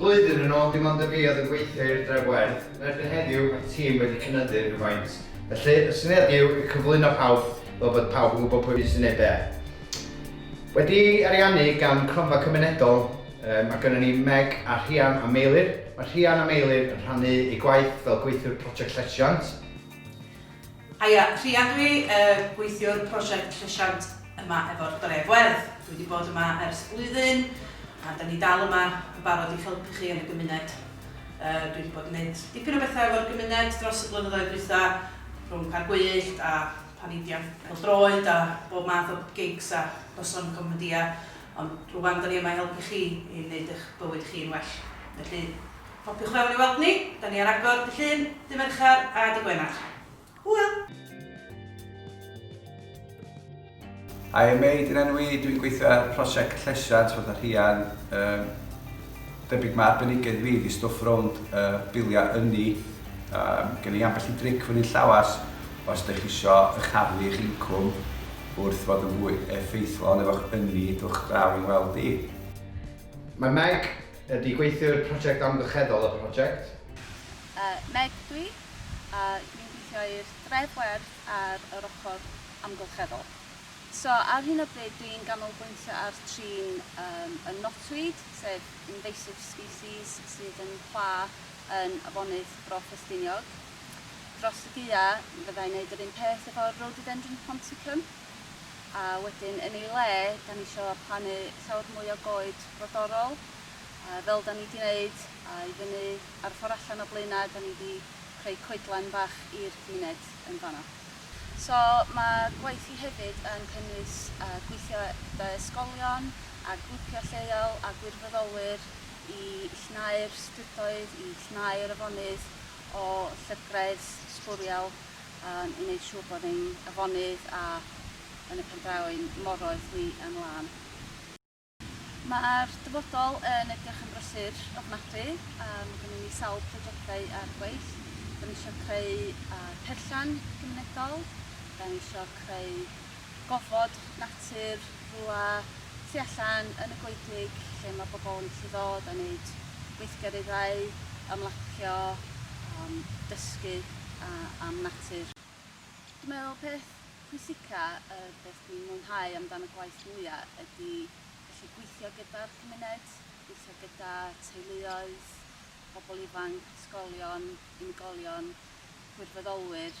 Blwyddyn yn ôl dim ond y fi oedd yn gweithio i'r Dref Werdd, yn erbyn heddiw mae'r tîm wedi cynyddu rhywfaint, felly y syniad yw i cyflwyno pawb fel bod pawb yn gwybod pwy sy'n neud be. Wedi ariannu gan Cronfa Cymunedol, mae gynnon ni Meg a Rhian a Meilir, mae Rhian a Meilir yn rhannu eu gwaith fel gweithiwr Project Llesiant. Haia, Rhian dw i, y gweithiwr prosiect llesiant yma efo'r Dref Werdd. Dwi wedi bod yma ers blwyddyn a da ni dal yma yn barod i'ch helpu chi yn y gymuned. Dwi wedi bod yn gwneud dipyn o bethau efo'r gymuned dros y blynyddoedd dwytha, rhwng Parc Gwyllt a paneidiau pêl-droed a bob math o gigs a noson comedia, ond rwan da ni yma i helpu chi i wneud eich bywyd chi'n well. Felly, Hopiwch fewn i weld ni, da ni ar agor dy Llun, dy Mercher a dy Gwener. Hwyl! Hi I'm Mei, dyna enw i, dwi'n gweithio ar prosiect llesiant fatha rhian, um, debyg mae arbenigedd fi di stwff rownd uh, biliau ynni, um, gen i ambell i dric fyny llawas os ydych chi isio ychaddu eich incwm wrth fod yn fwy effeithlon efo'ch ynni dwch draw i'n weld i. Mae Meg Ydy gweithiwr prosiect amgylcheddol y prosiect? Yy, Meg dw i, a dwi'n gweithio i'r dref werdd ar yr ochr amgylcheddol. So, ar hyn o bryd dwi'n ganolbwyntio ar trin yym y knotweed, sef invasive species sydd yn pla yn afonydd Bro Ffestiniog. Dros y gaeaf fydda i'n neud yr un peth efo rhododendron ponticum. a wedyn yn ei le 'da ni isio plannu llawer mwy o goed brodorol a fel 'da ni 'di neud a i fyny ar y ffor allan o Blaenau 'da ni 'di creu coedlan bach i'r cymuned yn fan'na. So ma' gwaith i hefyd yn cynnwys yy gweithio gyda ysgolion a grwpia' lleol a gwirfoddolwyr i llnau'r strydoedd, i llnau'r afonydd o llygredd sbwriel. Yn wneud siŵr bod ein afonydd a yn y pen draw ein moroedd ni yn lân. Mae'r dyfodol yn edrych yn brysur ofnadwy a mae gennym ni sawl projectau ar gweith. Da ni eisiau creu perllan gymunedol, da ni eisiau creu gofod, natur, rwla tu allan yn y goedwig lle mae bobl yn gallu ddod a wneud gweithgareddau, ymlacio, am dysgu a am natur. Dwi'n meddwl peth pwysica, y peth dwi'n mwynhau amdan y gwaith mwya ydi gallu gweithio gyda'r cymuned, gweithio gyda teuluoedd, pobl ifanc, ysgolion, unigolion, gwirfoddolwyr.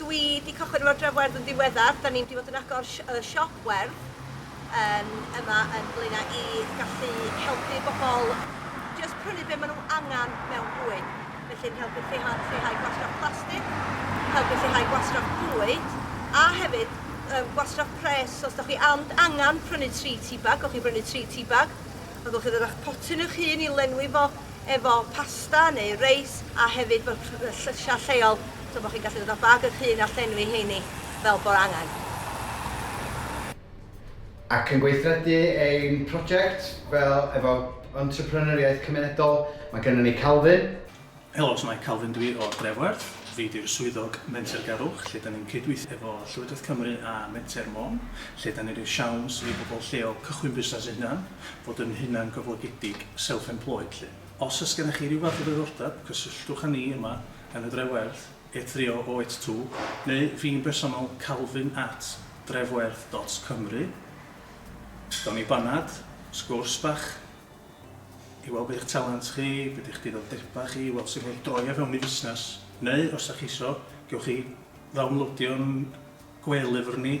Dwi 'di cychwyn efo'r dref werdd yn ddiweddar, 'da ni'n 'di bod yn agor si- yy siop werdd yn yma yn Blaena' i gallu helpu bobol jyst prynu be' ma' nw angan mewn bwyd, felly'n helpu lleihau lleihau gwastraff plastic, helpu lleihau gwastraff bwyd, a hefyd yym gwastraff pres, os 'dach chi and angan prynu tri tî bag, gewch chi brynu tri tî bag, a gewch chi ddod â'ch potyn eich hun i lenwi fo, efo pasta neu reis a hefyd bod llysiau lleol so bod chi'n gallu dod â bag eich hun a llenwi heini fel bod angen. Ac yn gweithredu ein prosiect fel efo entrepreneuriaeth cymunedol mae gennym ni Calvin. Helo, shwmae, Calvin dw i o Drefwerth. Fi di'r swyddog mentergarwch lle da ni'n cydweithio efo Llywodraeth Cymru a Menter Môn lle da ni'n rhoi siawns i bobl lleol cychwyn busnes eu hunan. fod yn hunangyflogedig, self-employed, 'lly. Os oes gennych chi ryw fath o ddiddordeb, cysylltwch â ni yma yn y Dref Werdd, 83082, neu fi'n bersonol, calvin at drefwerdd dot cymru. Gawn ni banad, sgwrs bach, i weld be yw'ch talent chi, be di'ch diddordebau chi, weld sut mae droi o fewn i fusnes, neu os da chi isio, gewch chi ddawnlowdio'n gwe-lyfr ni,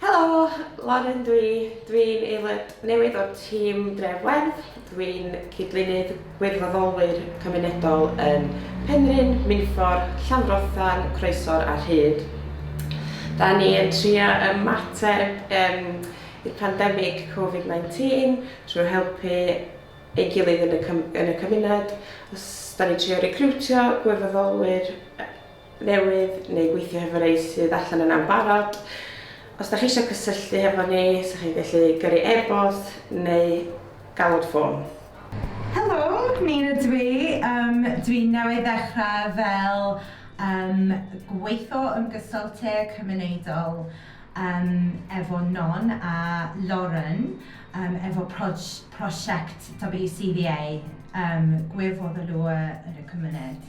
Helo, Lauren dwi. Dwi'n aelod newydd o'r tîm Dref Werdd. Dwi'n cydlynydd gwirfoddolwyr cymunedol yn Penrhyn, Minffordd, Llanfrothan, Croesor a Rhyd. Da ni yn trio ymateb um, i'r pandemig Covid-19 trwy helpu ei gilydd yn y, yn y cymuned. Os da ni'n trio recriwtio gwirfoddolwyr newydd neu gweithio hefo rei sydd allan yna'n barod. Os da chi eisiau cysylltu hefo ni, sa chi'n gallu gyrru e-bost neu galwad ffôn. Helo, Nîn ydw i. Yym, dwi newydd ddechrau fel yym gweitho yn gysylltu cymunedol yym efo Non a Lauren yym efo proj- prosiect WCVA yym Gwir Foddolua yn y Cymuned.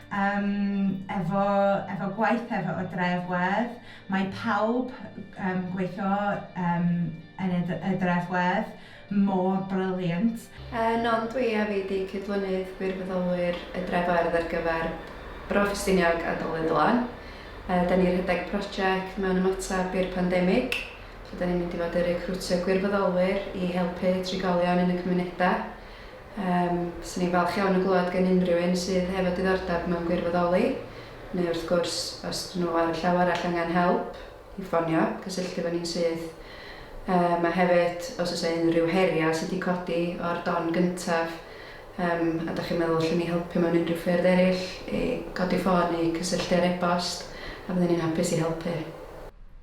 Yym efo efo gwaith efo y dref wedd mae pawb yym gweithio yym yn y y dref wedd mor brilliant. Yn non dwi a fi di cydlynydd gwirfoddolwyr y dref wedd ar gyfer Bro Ffestiniog a Dolydd lan. Yy da ni rhedeg project mewn ymateb i'r pandemig lle da ni'n mynd i fod y recriwtio gwirfoddolwyr i helpu trigolion yn y cymuneda. Yym, fyswn i'n falch iawn o glywed gan unrhyw un sydd hefo diddordeb mewn gwirfoddoli, neu wrth gwrs, os dyn nhw ar y llaw arall angen help, i ffonio, cysylltu efo ni'n syth. Yym, a hefyd, os oes 'na unrhyw heriau sydd wedi codi o'r don gyntaf, yym, a dach chi'n meddwl allen ni helpu mewn unrhyw ffyrdd eraill, i godi ffôn neu cysylltu ar e-bost, a fydden ni'n hapus i helpu.